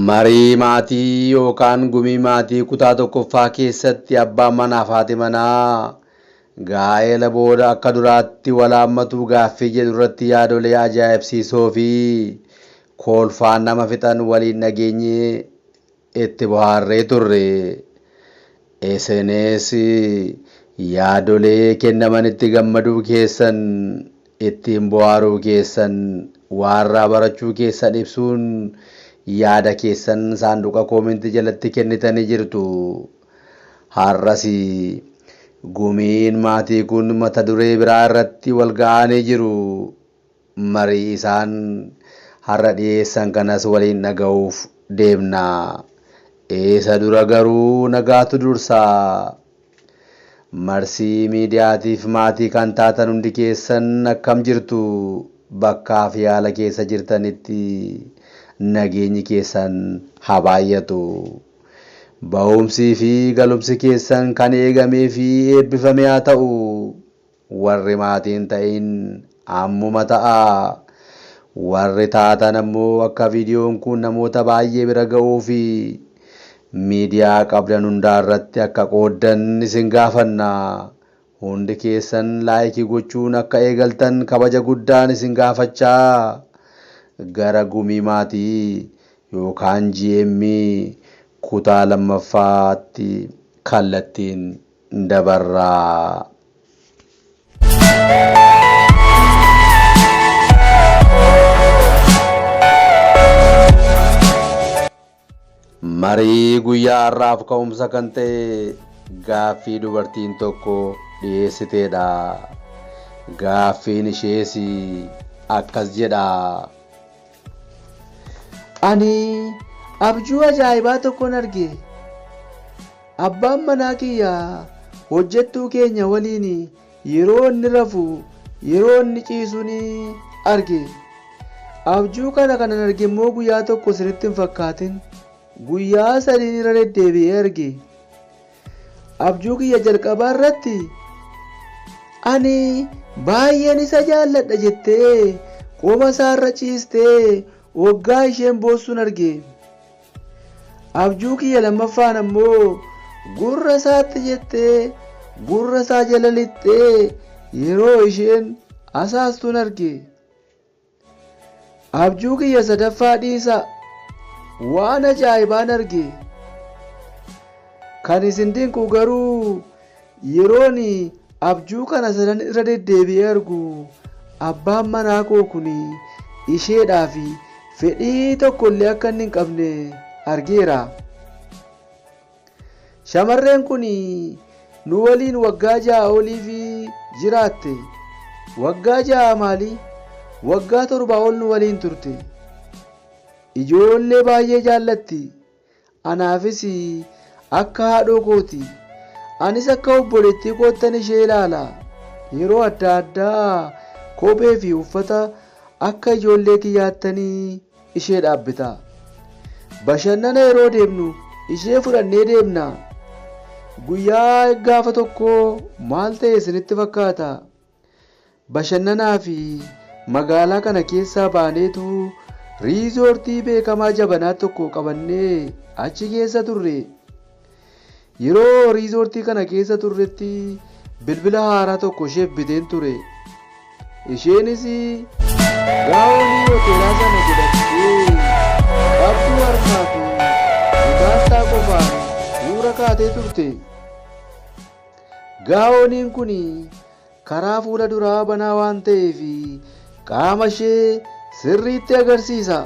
Marii maatii yookaan gumii maatii kutaa tokkoffaa keessatti abbaan manaa fi haati manaa gaa'ela booda akka duraatti wal haammatuu gaaffii jedhu irratti yaadolee ajaa'ibsiisoo fi koolfaan nama fixan waliin dhageenye Itti bohaarree turre. Isinis yaadolee kennamanitti gammaduu keessan, ittiin bohaaruu keessan, waarraa barachuu keessan ibsuun yaada keessan saanduqa koomentii jalatti kennitanii jirtu. Har'as gumiin maatii kun mata duree biraa irratti wal ga'aanii jiru. Marii isaan har'a dhiyeessan kanas waliin dhaga'uuf deemna. Isa dura garuu nagaatu dursa. Marsii Miidiyaatiif maatii kan taatan hundi keessan akkam jirtu? Bakkaa fi haala keessa jirtanitti nageenyi keessan haa baay'atu. Ba'umsii fi galumsi keessan kan eegamee fi eebbifame haa ta'u. Warri maatii hin ta'iin ammuma ta'aa! Warri taatan ammoo akka viidiyoon kun namoota baay'ee bira ga'uu fi miidiyaa qabdan hundaa irratti akka qooddan isin gaafanna. Hundi keessan like gochuun akka eegaltan kabaja guddaan isin gaafachaa gara Gumii Maatii yookaan GM kutaa 2ffaatti kallattiin. dabarraa. Marii guyyaa har'aaf ka'umsa kan ta'e gaaffii dubartiin tokko dhiyeessiteedha. Gaaffiin ishees akkas jedha. Ani abjuu ajaa'ibaa tokkon arge. Abbaan manaa kiyya hojjettuu keenya waliin yeroo inni rafu yeroo inni ciisu ni arge. Abjuu kana kanan arge immoo guyyaa tokko isinitti hin fakkaatin. Guyyaa sadiin irra deddeebi'ee arge. Abjuu kiyya jalqabaa irratti ani baay'een isa jaalladha jettee qoma isaa irra ciistee waggaa isheen boossuun arge. Abjuu kiyya lammaffaan ammoo gurra isaatti jettee gurra isaa jala lixxee yeroo isheen asaastuun arge. Abjuu kiyya sadaffaa dhiisaa waan ajaa'ibaan arge kan isin dinqu garuu yeroon abjuu kana sadan irra deddeebi'ee argu abbaan manaa koo kun isheedhaa fi fedhii tokkollee akka inni hin qabne argeera. Shamarreen kun nu waliin waggaa ja'a oliif jiraatte. Waggaa ja'a maali? Waggaa torbaa ol nu waliin turte. Ijoollee baay'ee jaallatti. Anaafis akka haadhoo kooti. Anis akka obboleettii koottan ishee ilaala. Yeroo adda addaa kophee fi uffata akka ijoollee kiyyaattanii ishee dhaabbitaa? Bashannana yeroo deemnu ishee fudhannee deemnaa? Guyyaa gaafa tokkoo maal ta'e isinitti fakkaata? Bashannanaa fi magaalaa kana keessaa baaneetu riizoortii beekamaa jabanaa tokko qabannee achi keessa turre. Yeroo riizoortii kana keessa turretti bilbila haaraa tokko isheef biteen ture. Isheenis gaa'onii hoteelaa sana godhattee qabduu harkaa fi mataansaa qofaan suura kaatee turte. Gaa'oniin kun Karaa fuula duraa banaa waan ta'eef qaama ishee sirriitti agarsiisa.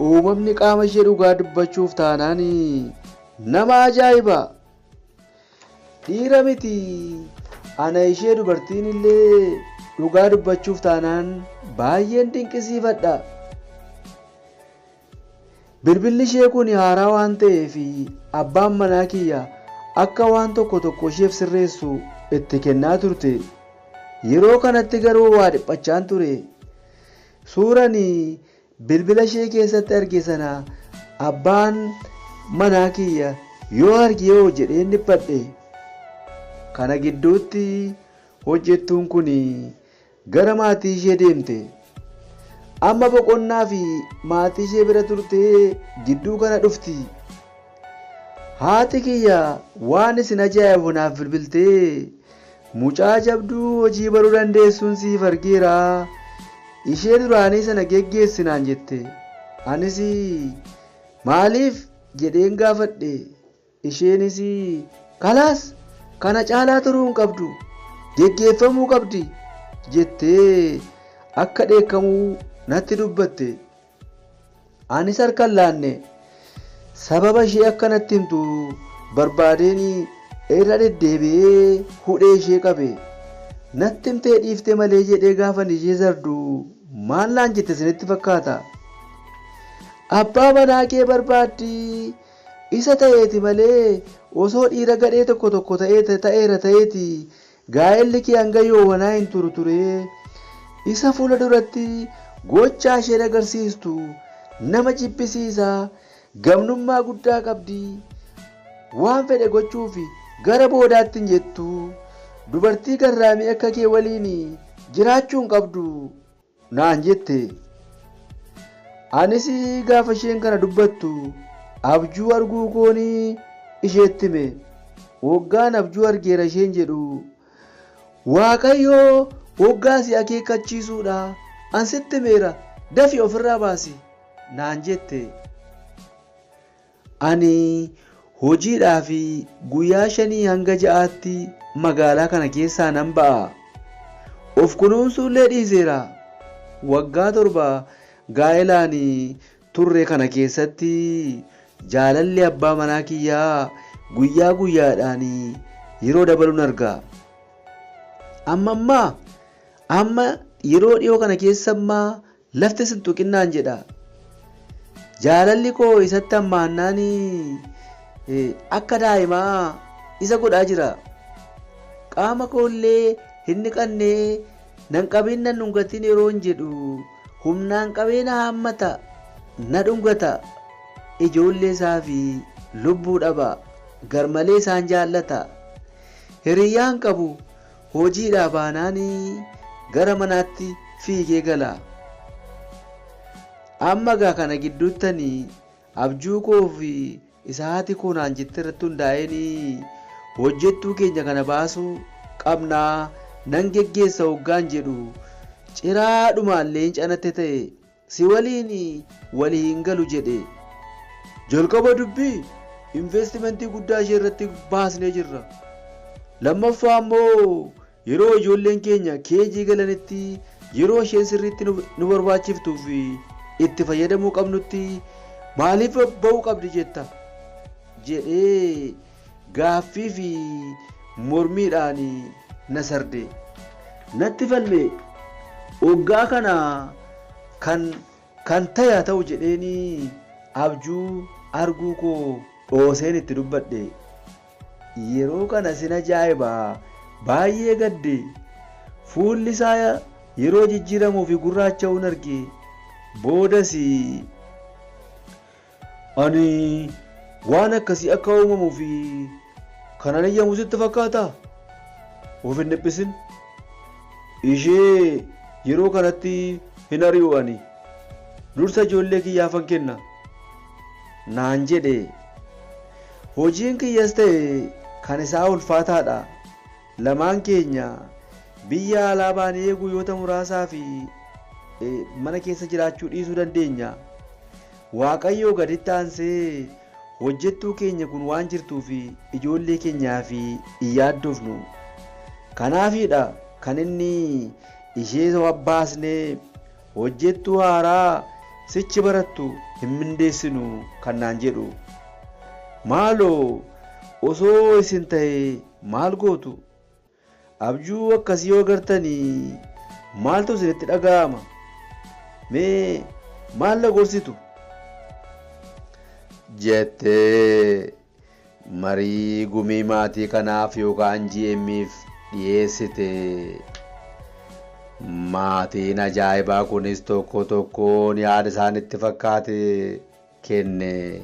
Uumamni qaama ishee dhugaa dubbachuuf taanaan nama ajaa'iba. Dhiira miti ana ishee dubartiin illee dhugaa dubbachuuf taanaan baay'een dinqisiifadha. Bilbilli ishee kun haaraa waan ta'eef abbaan manaa kiyya akka waan tokko tokko isheef sirreessu itti kennaa turte. Yeroo kanatti garuu waa dhiphachaan ture. Suura ani bilbila ishee keessatti arge sana abbaan manaa kiyya yoo arge hoo jedheen dhiphadhe. Kana gidduutti hojjettuun kun Gara maatii ishee deemte. Amma boqonnaa fi maatii ishee bira turtee gidduu kana dhufti. Haati kiyya waan isin ajaa'ibu naaf bilbiltee, mucaa jabduu hojii baruu dandeessuun siif argeera, ishee duraanii sana geggeessi naan jette. Anis maaliif? jedheen gaafadhe. Isheenis Kalaas! Kana caalaa turuu hin qabdu! Geggeeffamuu qabdi! jettee akka dheekkamu natti dubbatte. Anis harka hin laanne. Sababa ishee akka natti himtu barbaadeen irra deddeebi'ee hudhee ishee qabe. Natti himtee dhiifte malee jedhee gaafan ishee sardu maal naan jette isinitti fakkaata? Abbaa manaa kee barbaaddii Isa ta'eeti malee osoo dhiira gadhee tokko tokko ta'ee ta'eera ta'eeti gaa'elli kee hanga yoowanaa hin turu ture. Isa fuula duratti gochaa isheen agarsiistu nama jibbisiisa, gamnummaa guddaa qabdi, waan fedhe gochuuf gara boodaatti hin jettu. Dubartii garraamii akka kee waliin jiraachuu hin qabdu. naan jette. Anis gaafa isheen kana dubbattu abjuu arguu koon isheetti hime. Woggaan abjuu argeera isheen jedhu Waaqayyoo woggaa si akeekkachiisuudha an sitti himeera dafi ofirraa baasi naan jette. Ani hojiidhaaf guyyaa shanii hanga ja'aatti magaalaa kana keessaa nan ba'a. Of kunuunsuullee dhiiseera. Waggaa torba gaa'elaan turre kana keessatti jaalalli abbaa manaa kiyyaa guyyaa guyyaadhaan yeroo dabaluun arga. Amma ammaa amma yeroo dhiyoo kana keessa ammaa Lafti sin tuqinnaan jedha. Jaalalli koo isatti hammaannaan akka daa'imaa isa godhaa jira. Qaama koo illee hin dhiqanne nan qabiin nan dhungatiin yeroon jedhu humnaan qabee na haammata na dhungata. Ijoollee isaa fi lubbuu dhaba. Garmalee isaan jaallata. Hiriyyaan qabu. Hojiidhaa baanaan gara manaatti fiigee gala. Amma egaa kana gidduutti ani abjuu koo fi isa haati koo naan jette irratti hundaa'een hojjettuu keenya kana baasuu qabnaa nan geggeessa hoggaan jedhu ciraadhumaan leenca natti ta'e Si waliin walii hin galu jedhe. Jalqaba dubbii investimentii guddaa ishee irratti baasnee jirra. Lammaffaa immoo yeroo ijoolleen keenya KG galanitti yeroo isheen sirriitti nu nu barbaachiftuu fi itti fayyadamuu qabnutti maaliif ba'uu qabdi jetta? jedhee Gaaffii fi mormiidhaan na sardee. Natti falmee. Oggaa kana kan kan ta'e haa ta'u jedheenii abjuu arguu koo dhooseen itti dubbadhe. Yeroo kana sin ajaa'iba baay'ee gadde. Fuulli isaa yeroo jijjiiramuu fi gurraacha'uun arge. Boodas Ani waan akkasii akka uumamuu fi kanan heyyamu sitti fakkaataa? Of hin dhiphisin. Ishee yeroo kanatti hin ari'u ani. Dursa ijoollee kiyyaafan kenna. Naan jedhe. Hojiin kiyyas ta'e kan isaa ulfaataadha. Lamaan keenya biyya alaa baanee guyyoota muraasaa fi mana keessa jiraachuu dhiisuu dandeenya. Waaqayyoo gaditti aansee hojjettuu keenya kun waan jirtuuf ijoollee keenyaaf hin yaaddofnu. Kanaafiidha kan inni ishee baasnee hojjettuu haaraa sichi barattu hin mindeessinu kan naan jedhu. Maaloo osoo isin ta'ee maal gootu? Abjuu akkasii yoo gartan maaltu isinitti dhaga'ama? Mee maal na gorsitu? jettee marii gumii maatii kanaaf yookaan GM'f dhiyeessite. Maatiin ajaa'ibaa kunis tokko tokkoon yaada isaanitti fakkaate kenne.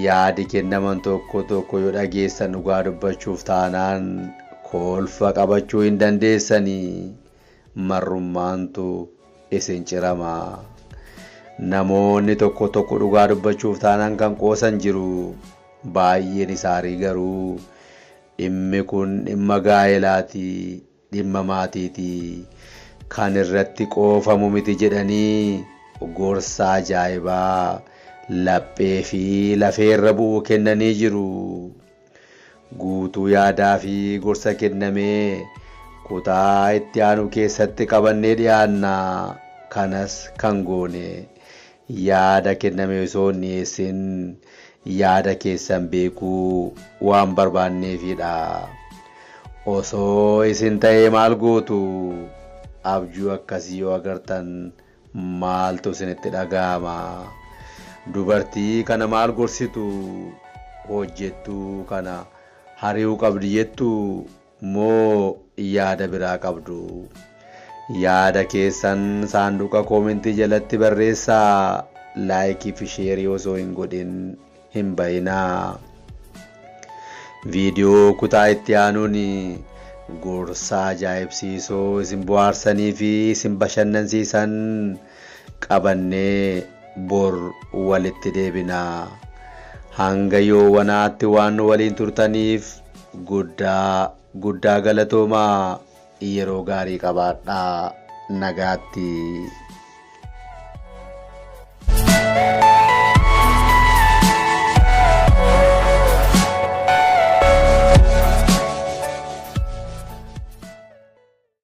Yaadi kennaman tokko tokko yoo dhageessan dhugaa dubbachuuf taanaan kolfa qabachuu hin dandeessani. Marrummaantu isin cirama. Namoonni tokko tokko dhugaa dubbachuuf taanaan kan qoosan jiru. Baay'een isaarii garuu dhimmi kun dhimma gaa'elaati dhimma maatiiti kan irratti qoofamu miti jedhanii gorsa ajaa'ibaa laphee fi lafee irra bu'u kennanii jiru. Guutuu yaadaa fi gorsa kenname kutaa itti aanu keessatti qabannee dhiyaanna. Kanas kan goone Yaada kenname osoo hin dhiyeessin yaada keessan beekuu waan barbaanneefidha. Osoo isin ta'ee maal gootu? Abjuu akkasii yoo agartan maaltu isinitti dhaga'ama? Dubartii kana maal gorsitu? Hojjettuu kana hari'uu qabdi jettuu? moo yaada biraa qabdu? Yaada keessan saanduqa koomentii jalatti barreessaa like fi share osoo hin godhin hin bahinaa. Viidiyoo kutaa itti aanuun gorsa ajaa'ibsiisoo isin bohaarsanii fi isin bashannansiisan qabannee bor walitti deebina. Hanga yoowanaatti waan nu waliin turtaniif Guddaa guddaa galatoomaa yeroo gaarii qabaadhaa nagaatti.